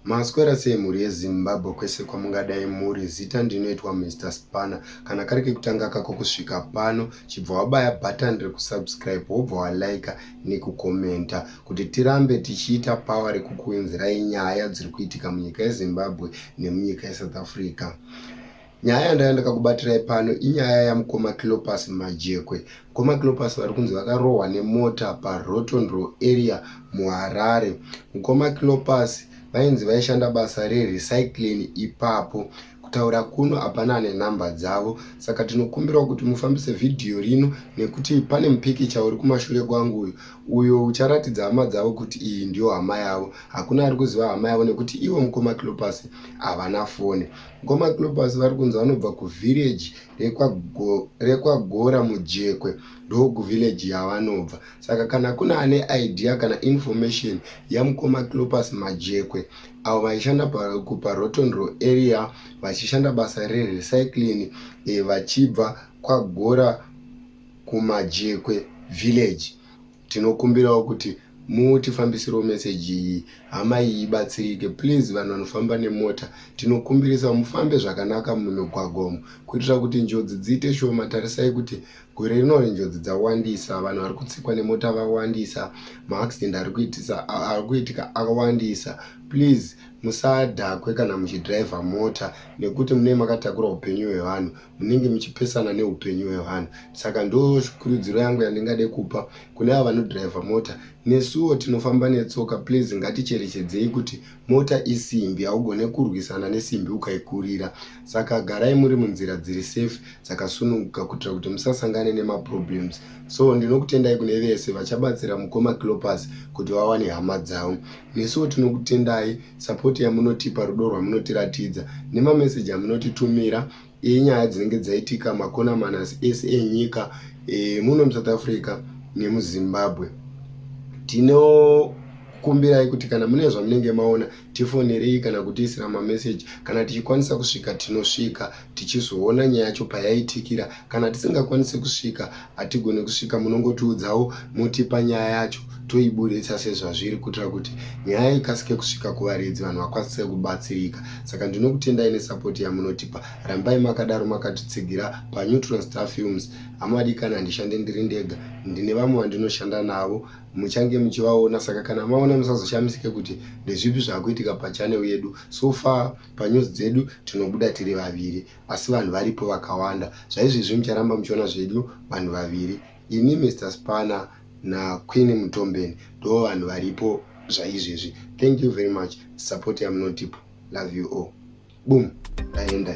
Maswera sei mhuri yeZimbabwe kwese kwamungadai muri zita ndinoitwa Mr Spanner kana kari kekutanga kako kusvika pano chibva wabaya button rekusubscribe wobva walaika nekukomenta kuti tirambe tichiita power rekukuinzirai nyaya dziri kuitika munyika yeZimbabwe nemunyika yeSouth Africa Nyaya yandanga ndakakubatirai pano inyaya yamukoma Clopas Majekwe. Mukoma Clopas vari kunzi vakarohwa nemota paRotondro area muHarare. Mukoma Clopas vainzi vaishanda basa rerecycling ipapo. Kutaura kuno hapana ane nhamba dzavo, saka tinokumbirawo kuti mufambise vhidhiyo rino nekuti pane mupikicha uri kumashure kwangu uyu uyo ucharatidza hama dzavo kuti iyi ndiyo hama yavo. Hakuna ari kuziva hama yavo nekuti ivo mukoma Clopas havana foni. Ngoma Clubbers vari kunzi vanobva kuvillage rekwagora mujekwe ndokuvillage yavanobva saka kana kuna ane idea kana information yamukoma Clubbers majekwe avo vaishanda kuparotonro area vachishanda basa rerecycling eh, vachibva kwagora kumajekwe village Tinokumbirawo kuti mutifambisirewo meseji iyi hama iyi ibatsirike please vanhu vanofamba nemota tinokumbirisa mufambe zvakanaka mumigwagwa umu kuitira kuti njodzi dziite shoma tarisai kuti gore rino renjodzi dzawandisa vanhu vari kutsikwa nemota vawandisa maaccident ari kuitika akawandisa please musadhakwe kana muchidhiraivha mota nekuti munee makatakura upenyu hwevanhu munenge muchipesana neupenyu hwevanhu saka ndo kurudziro yangu yandingade kupa kune avo vanodhiraivha mota nesuwo tinofamba netsoka please ngaticherechedzei kuti mota isimbi haugone kurwisana nesimbi ukaikurira saka garai muri munzira dziri safe dzakasununguka kuitira kuti musasangane nemaproblems so ndinokutendai kune vese vachabatsira mukoma clopas kuti vawane hama dzavo Nesuwo tinokutendai support yamunotipa, rudo rwamunotiratidza nemameseji amunotitumira enyaya dzinenge dzaitika makona manas ese enyika e, muno muSouth Africa nemuZimbabwe. Tinokukumbirai kuti kana mune zvamunenge maona tifonerei kana kutiisira mameseji, kana tichikwanisa kusvika tinosvika. tichizoona nyaya yacho payaitikira kana tisingakwanise kusvika hatigone kusvika munongotiudzawo motipa nyaya yacho toiburitsa sezvazviri kuitira kuti nyaya ikasike kusvika kuvaridzi vanhu vakwanise kubatsirika saka ndinokutendai nesapoti yamunotipa rambai makadaro makatitsigira paneutral star films hamadikani handishande ndiri ndega ndine vamwe vandinoshanda navo muchange muchivaona saka kana maona musazoshamisike kuti ndezvipi zvakuitika pachanel yedu so far Panews dzedu tinobuda tiri vaviri asi vanhu varipo vakawanda. Zvaizvezvi mucharamba muchiona zvedu vanhu vaviri. Ini Mister Spanner na Queen Mutombeni ndo vanhu varipo zvaizvezvi. Thank you very much support yamunotipa. Love you all. Boom. Ndaenda.